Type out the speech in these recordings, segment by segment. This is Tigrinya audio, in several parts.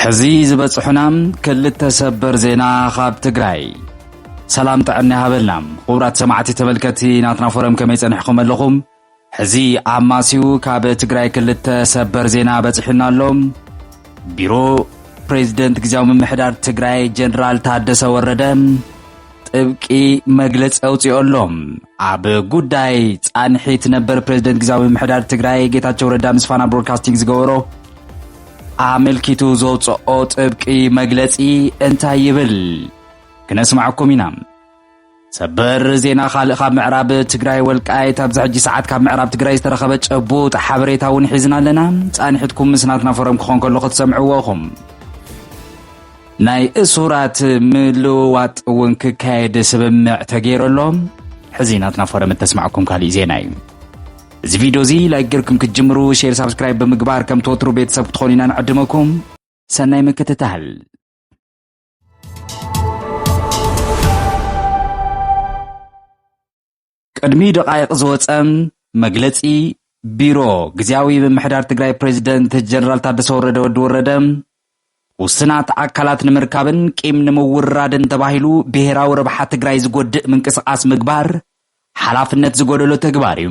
ሕዚ ዝበፅሑና ክልተ ሰበር ዜና ካብ ትግራይ ሰላም ጥዕና ይሃበልና ክቡራት ሰማዕቲ ተመልከቲ ናትና ፎረም ከመይ ፀኒሕኩም ኣለኹም ሕዚ ኣማሲዩ ካብ ትግራይ ክልተ ሰበር ዜና በፂሑና ኣሎ። ቢሮ ፕሬዝደንት ግዜያዊ ምምሕዳር ትግራይ ጀነራል ታደሰ ወረደ ጥብቂ መግለፂ ኣውፂኦ ኣሎ። ኣብ ጉዳይ ፃንሒት ነበር ፕሬዝደንት ግዜያዊ ምምሕዳር ትግራይ ጌታቸው ረዳ ምስ ፋና ብሮድካስቲንግ ዝገበሮ ኣመልኪቱ ዘውፅኦ ጥብቂ መግለፂ እንታይ ይብል ክነስማዕኩም ኢና። ሰበር ዜና ካልእ ካብ ምዕራብ ትግራይ ወልቃይት ኣብዚ ሕጂ ሰዓት ካብ ምዕራብ ትግራይ ዝተረኸበ ጨቡጥ ሓበሬታ እውን ሒዝና ኣለና ፃንሒትኩም ምስ ናትና ፎረም ክኾን ከሎ ክትሰምዕዎ ኢኹም ናይ እሱራት ምልውዋጥ እውን ክካየድ ስምምዕ ተገይሩ ኣሎ ሕዚ ናትና ፎረም እተስማዕኩም ካሊእ ዜና እዩ እዚ ቪድዮ እዚ ላይክ ጌርኩም ክትጅምሩ ሼር ሳብስክራይብ ብምግባር ከም ትወትሩ ቤተሰብ ክትኾኑ ኢና ንዕድመኩም ሰናይ ምክትታል ቅድሚ ደቓይቕ ዝወፀ መግለፂ ቢሮ ግዜያዊ ምምሕዳር ትግራይ ፕሬዚደንት ጀነራል ታደሰ ወረደ ወዲ ወረደ ውስናት ኣካላት ንምርካብን ቂም ንምውራድን ተባሂሉ ብሄራዊ ረብሓ ትግራይ ዝጎድእ ምንቅስቓስ ምግባር ሓላፍነት ዝጎደሎ ተግባር እዩ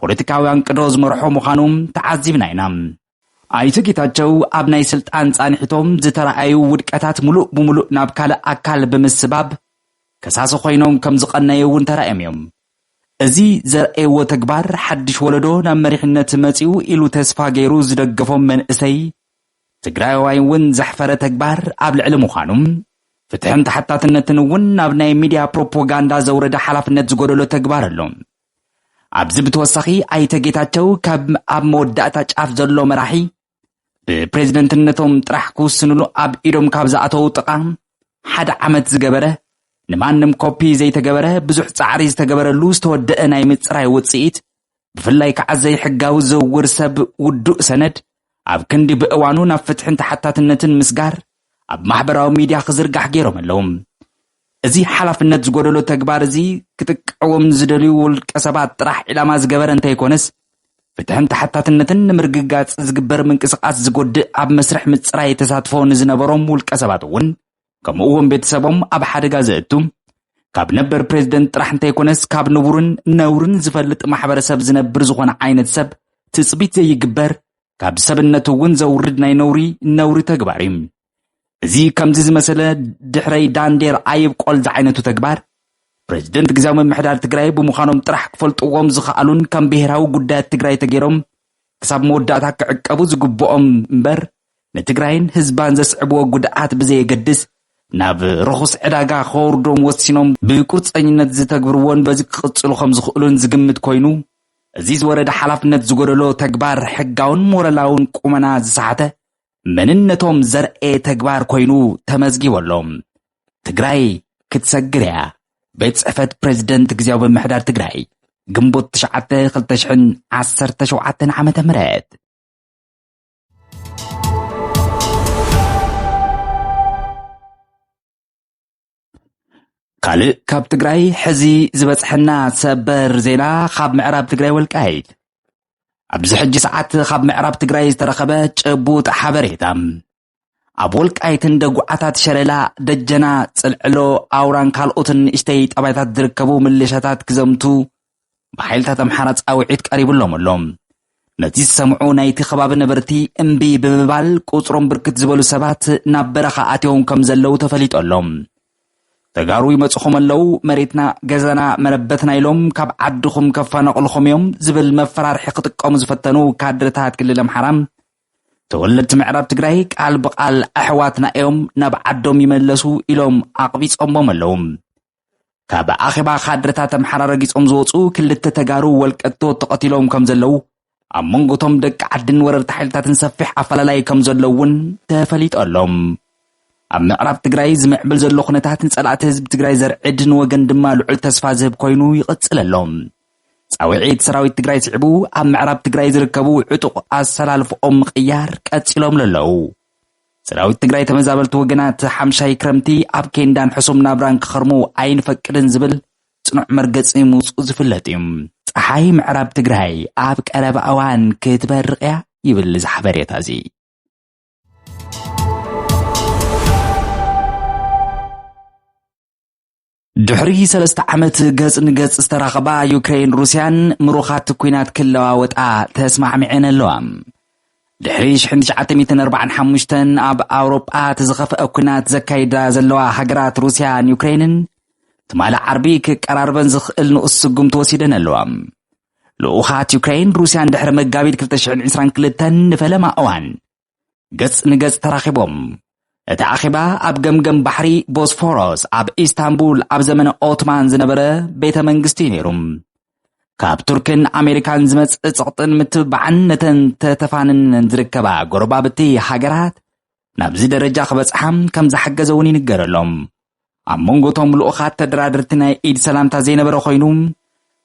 ፖለቲካዊ ኣንቅዶ ዝመርሖ ምዃኑ ተዓዚብና ኢና። ኣይተ ጌታቸው ኣብ ናይ ስልጣን ፃንሒቶም ዝተረኣዩ ውድቀታት ሙሉእ ብሙሉእ ናብ ካልእ ኣካል ብምስባብ ከሳሲ ኮይኖም ከም ዝቐነዩ እውን ተራእዮም እዮም። እዚ ዘርእየዎ ተግባር ሓድሽ ወለዶ ናብ መሪሕነት መፂኡ ኢሉ ተስፋ ገይሩ ዝደገፎም መንእሰይ ትግራይዋይ እውን ዘሕፈረ ተግባር ኣብ ልዕሊ ምዃኑ ፍትሕን ተሓታትነትን እውን ናብ ናይ ሚድያ ፕሮፖጋንዳ ዘውረደ ሓላፍነት ዝጎደሎ ተግባር ኣሎ። ኣብዚ ብተወሳኺ ኣይተ ጌታቸው ካብ ኣብ መወዳእታ ጫፍ ዘሎ መራሒ ብፕሬዝደንትነቶም ጥራሕ ክውስንሉ ኣብ ኢዶም ካብ ዝኣተዉ ጥቓ ሓደ ዓመት ዝገበረ ንማንም ኮፒ ዘይተገበረ ብዙሕ ጻዕሪ ዝተገበረሉ ዝተወደአ ናይ ምጽራይ ውጽኢት ብፍላይ ከዓ ዘይሕጋዊ ዝውውር ሰብ ውዱእ ሰነድ ኣብ ክንዲ ብእዋኑ ናብ ፍትሕን ተሓታትነትን ምስጋር ኣብ ማሕበራዊ ሚድያ ክዝርጋሕ ገይሮም ኣለዉ። እዚ ሓላፍነት ዝጎደሎ ተግባር እዚ ክጥቀዕዎም ንዝደልዩ ውልቀ ሰባት ጥራሕ ዒላማ ዝገበረ እንተይኮነስ ፍትሕን ተሓታትነትን ንምርግጋፅ ዝግበር ምንቅስቓስ ዝጎድእ ኣብ መስርሕ ምፅራይ ተሳትፎ ንዝነበሮም ውልቀ ሰባት እውን ከምኡ'ውን ቤተሰቦም ኣብ ሓደጋ ዘእቱ ካብ ነበር ፕሬዝደንት ጥራሕ እንተይኮነስ ካብ ንቡርን ነውርን ዝፈልጥ ማሕበረሰብ ዝነብር ዝኾነ ዓይነት ሰብ ትፅቢት ዘይግበር ካብ ሰብነቱ እውን ዘውርድ ናይ ነውሪ ነውሪ ተግባር እዩ እዚ ከምዚ ዝመሰለ ድሕረይ ዳንዴር ኣይብቆል ዝዓይነቱ ተግባር ፕሬዝደንት ግዜያዊ ምምሕዳር ትግራይ ብምዃኖም ጥራሕ ክፈልጥዎም ዝኸኣሉን ከም ብሄራዊ ጉዳያት ትግራይ ተገይሮም ክሳብ መወዳእታ ክዕቀቡ ዝግብኦም እምበር ንትግራይን ህዝባን ዘስዕብዎ ጉድኣት ብዘየገድስ ናብ ርኹስ ዕዳጋ ከወርዶም ወሲኖም ብቁርፀኝነት ዝተግብርዎን በዚ ክቕፅሉ ከም ዝኽእሉን ዝግምት ኮይኑ እዚ ዝወረደ ሓላፍነት ዝጎደሎ ተግባር ሕጋውን ሞረላውን ቁመና ዝሰሓተ መንነቶም ዘርኤ ተግባር ኮይኑ ተመዝጊቡ ኣሎ። ትግራይ ክትሰግር እያ፣ ቤት ጽሕፈት ፕረዚደንት ግዜያዊ ምምሕዳር ትግራይ ግንቦት 9 2017 ዓ.ም ካልእ ካብ ትግራይ ሕዚ ዝበፅሐና ሰበር ዜና ካብ ምዕራብ ትግራይ ወልቃይት ኣብዚ ሕጂ ሰዓት ካብ ምዕራብ ትግራይ ዝተረኸበ ጭቡጥ ሓበሬታ ኣብ ወልቃይትን ደጉዓታት ሸለላ፣ ደጀና፣ ጽልዕሎ፣ ኣውራን ካልኦትን ንእሽተይ ጠባይታት ዝርከቡ ምልሻታት ክዘምቱ ብሓይልታት ኣምሓራ ጻውዒት ቀሪብሎም ኣሎ። ነዚ ዝሰምዑ ናይቲ ከባቢ ነበርቲ እምቢ ብምባል ቁጽሮም ብርክት ዝበሉ ሰባት ናብ በረኻ ኣትዮም ከም ዘለዉ ተፈሊጡ ኣሎ። ተጋሩ ይመጽኹም ኣለዉ፣ መሬትና፣ ገዛና፣ መረበትና ኢሎም ካብ ዓድኹም ከፋናቕልኹም እዮም ዝብል መፈራርሒ ክጥቀሙ ዝፈተኑ ካድረታት ክልል ኣምሓራ ተወለድቲ ምዕራብ ትግራይ ቃል ብቃል ኣሕዋትና እዮም ናብ ዓዶም ይመለሱ ኢሎም ኣቕቢፆሞም ኣለዉ። ካብ ኣኼባ ካድረታት ኣምሓራ ረጊፆም ዝወፁ ክልተ ተጋሩ ወልቀቶ ተቐቲሎም ከም ዘለዉ ኣብ መንጎቶም ደቂ ዓድን ወረርቲ ሓይልታትን ሰፊሕ ኣፈላላይ ከም ዘሎ እውን ተፈሊጡ ኣሎ ኣብ ምዕራብ ትግራይ ዝምዕብል ዘሎ ኩነታት ንፀላእቲ ህዝቢ ትግራይ ዘርዕድ ንወገን ድማ ልዑል ተስፋ ዝህብ ኮይኑ ይቕፅል ኣሎ ፃውዒት ሰራዊት ትግራይ ስዒቡ ኣብ ምዕራብ ትግራይ ዝርከቡ ዕጡቕ ኣሰላልፍኦም ምቕያር ቀፂሎም ለለዉ። ሰራዊት ትግራይ ተመዛበልቲ ወገናት ሓምሻይ ክረምቲ ኣብ ኬንዳን ሕሱም ናብራን ክኸርሙ ኣይንፈቅድን ዝብል ፅኑዕ መርገፂ ምውፅኡ ዝፍለጥ እዩ። ፀሓይ ምዕራብ ትግራይ ኣብ ቀረባ እዋን ክትበርቕ እያ ይብል እዚ ሓበሬታ እዚ። ድሕሪ ሰለስተ ዓመት ገጽ ንገጽ ዝተራኸባ ዩክሬን ሩስያን ምሩኻት ኩናት ክለዋወጣ ተስማዕሚዐን ኣለዋ። ድሕሪ 1945 ኣብ ኣውሮጳ እቲ ዝኸፍአ ኩናት ዘካይዳ ዘለዋ ሃገራት ሩስያን ዩክሬንን ትማሊ ዓርቢ ክቀራርበን ዝኽእል ንኡስ ስጉምቲ ወሲደን ኣለዋ ልኡኻት ዩክሬን ሩስያን ድሕሪ መጋቢት 2022 ንፈለማ እዋን ገጽ ንገጽ ተራኺቦም። እቲ ኣኼባ ኣብ ገምገም ባሕሪ ቦስፎሮስ ኣብ ኢስታንቡል ኣብ ዘመነ ኦትማን ዝነበረ ቤተ መንግስቲ እዩ ነይሩ። ካብ ቱርክን ኣሜሪካን ዝመጽእ ጸቕጥን ምትብባዕን ነተን ተተፋንነን ዝርከባ ጎረባብቲ ሃገራት ናብዚ ደረጃ ክበጽሓ ከም ዝሓገዘ እውን ይንገረሎም። ኣብ መንጎቶም ልኡኻት ተደራደርቲ ናይ ኢድ ሰላምታ ዘይነበረ ኮይኑ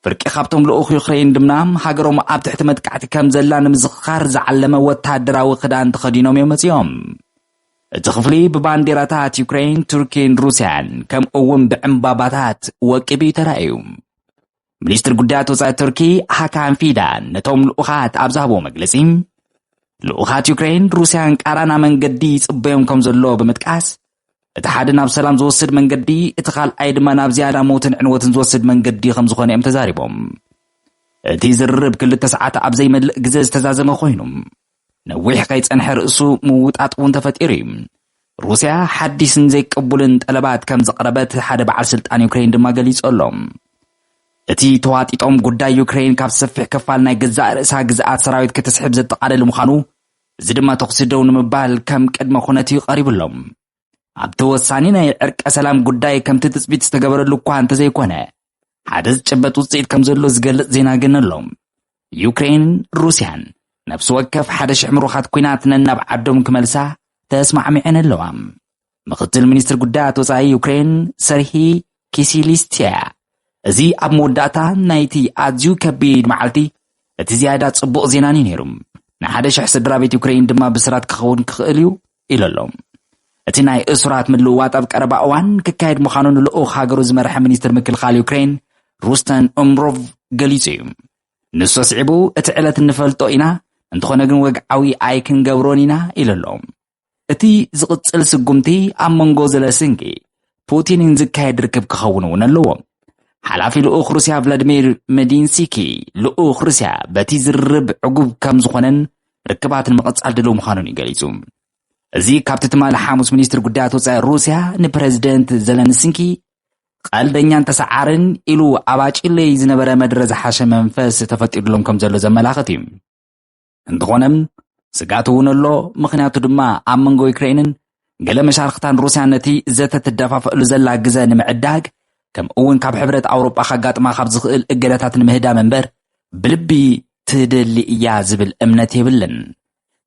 ፍርቂ ካብቶም ልኡኽ ዩክሬን ድማ ሃገሮም ኣብ ትሕቲ መጥቃዕቲ ከም ዘላ ንምዝኽኻር ዝዓለመ ወተሃደራዊ ክዳን ተኸዲኖም እዮም መጺኦም እቲ ክፍሊ ብባንዴራታት ዩክሬን ቱርኪን ሩስያን ከምኡ እውን ብዕምባባታት ወቂቡ እዩ ተራእዩ ሚኒስትሪ ጉዳያት ወፃኢ ቱርኪ ሃካን ፊዳን ነቶም ልኡኻት ኣብ ዝሃቦ መግለፂ ልኡኻት ዩክሬን ሩስያን ቃራና መንገዲ ይፅበዮም ከም ዘሎ ብምጥቃስ እቲ ሓደ ናብ ሰላም ዝወስድ መንገዲ እቲ ካልኣይ ድማ ናብ ዝያዳ ሞትን ዕንወትን ዝወስድ መንገዲ ከም ዝኾነ እዮም ተዛሪቦም እቲ ዝርርብ ክልተ ሰዓት ኣብ ዘይመልእ ግዘ ዝተዛዘመ ኮይኑ ነዊሕ ከይጸንሐ ርእሱ ምውጣጥ እውን ተፈጢሩ እዩ። ሩስያ ሓዲስን ዘይቅቡልን ጠለባት ከም ዘቕረበት ሓደ በዓል ስልጣን ዩክሬን ድማ ገሊጹ ኣሎ። እቲ ተዋጢጦም ጉዳይ ዩክሬን ካብ ሰፊሕ ክፋል ናይ ገዛእ ርእሳ ግዝኣት ሰራዊት ክትስሕብ ዘጠቓልል ምዃኑ፣ እዚ ድማ ተኹሲ ደው ንምባል ከም ቅድመ ኩነት እዩ ቀሪቡሎም። ኣብቲ ወሳኒ ናይ ዕርቀ ሰላም ጉዳይ ከምቲ ትፅቢት ዝተገበረሉ እኳ እንተዘይኮነ ሓደ ዝጨበጥ ውፅኢት ከም ዘሎ ዝገልፅ ዜና ግን ኣሎ ዩክሬንን ሩስያን ነፍሲ ወከፍ ሓደ ሽሕ ምሩኻት ኩናት ነናብ ዓዶም ክመልሳ ተስማዕሚዐን ኣለዋ ምክትል ሚኒስትር ጉዳያት ወፃኢ ዩክሬን ሰርሂ ኪሲሊስትያ እዚ ኣብ መወዳእታ ናይቲ ኣዝዩ ከቢድ መዓልቲ እቲ ዝያዳ ጽቡቕ ዜናን እዩ ነይሩ ንሓደ ሽሕ ስድራ ቤት ዩክሬን ድማ ብስራት ክኸውን ክኽእል እዩ ኢሉ ኣሎ። እቲ ናይ እሱራት ምልውዋጥ ኣብ ቀረባ እዋን ክካየድ ምዃኑ ንልኡኽ ሃገሩ ዝመርሐ ሚኒስትር ምክልኻል ዩክረይን ሩስተን ኡምሮቭ ገሊጹ እዩ። ንሱ ኣስዒቡ እቲ ዕለት እንፈልጦ ኢና፣ እንተኾነ ግን ወግዓዊ ኣይክንገብሮን ኢና ኢሉ ኣሎ። እቲ ዝቕጽል ስጉምቲ ኣብ መንጎ ዘለስንኪ ፑቲንን ዝካየድ ርክብ ክኸውን እውን ኣለዎ። ሓላፊ ልኡኽ ሩስያ ቭላድሚር መዲንሲኪ ልኡኽ ሩስያ በቲ ዝርርብ ዕጉብ ከም ዝኾነን ርክባት ንምቕጻል ድልው ምዃኑን እዩ ገሊጹ። እዚ ካብቲ ትማሊ ሓሙስ ሚኒስትሪ ጉዳያት ወፃኢ ሩስያ ንፕረዚደንት ዘለንስንኪ ቀልደኛን ተሰዓርን ኢሉ ኣባጭለይ ዝነበረ መድረ ዝሓሸ መንፈስ ተፈጢሩሎም ከም ዘሎ ዘመላኽት እዩ። እንተኾነ ስጋት እውን ኣሎ፣ ምኽንያቱ ድማ ኣብ መንጎ ዩክሬንን ገለ መሻርኽታን ሩስያን ነቲ ዘተ ትደፋፈእሉ ዘላ ግዘ ንምዕዳግ ከምኡ እውን ካብ ሕብረት ኣውሮጳ ከጋጥማ ካብ ዝኽእል እገዳታት ንምህዳም እምበር ብልቢ ትደሊ እያ ዝብል እምነት የብልን።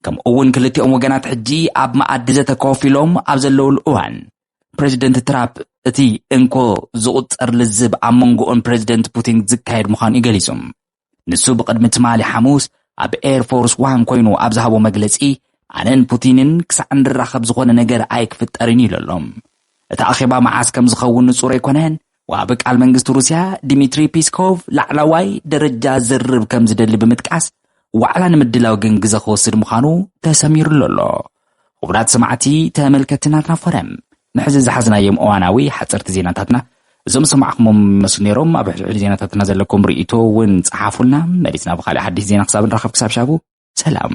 ከምኡ እውን ክልቲኦም ወገናት ሕጂ ኣብ መኣዲ ዘተ ኮፍ ኢሎም ኣብ ዘለውሉ እዋን ፕሬዚደንት ትራፕ እቲ እንኮ ዝቑፀር ልዝብ ኣብ መንጎኡን ፕሬዚደንት ፑቲን ዝካየድ ምዃኑ እዩ ገሊፁ። ንሱ ብቕድሚ ትማሊ ሓሙስ ኣብ ኤር ፎርስ ዋን ኮይኑ ኣብ ዝሃቦ መግለጺ ኣነን ፑቲንን ክሳዕ እንራኸብ ዝኾነ ነገር ኣይክፍጠርን ኢሉ ኣሎ። እቲ ኣኼባ መዓስ ከም ዝኸውን ንጹር ኣይኮነን፣ ወሃቢ ቃል መንግስቲ ሩስያ ዲሚትሪ ፒስኮቭ ላዕላዋይ ደረጃ ዝርርብ ከም ዝደሊ ብምጥቃስ ዋዕላ ንምድላው ግን ግዘ ክወስድ ምዃኑ ተሰሚሩሉ ኣሎ። ኹቡራት ሰማዕቲ ተመልከቲ ናትና ፎረም ንሕዚ ዝሓዝናዮም እዋናዊ ሓጸርቲ ዜናታትና እዞም ዝሰማዕኹሞም ይመስሉ ነይሮም ኣብ ሕድሕድ ዜናታትና ዘለኩም ርእይቶ እውን ጸሓፉልና መሊስና ብኻልእ ሓድሽ ዜና ክሳብ ንራኸብ ክሳብ ሻቡ ሰላም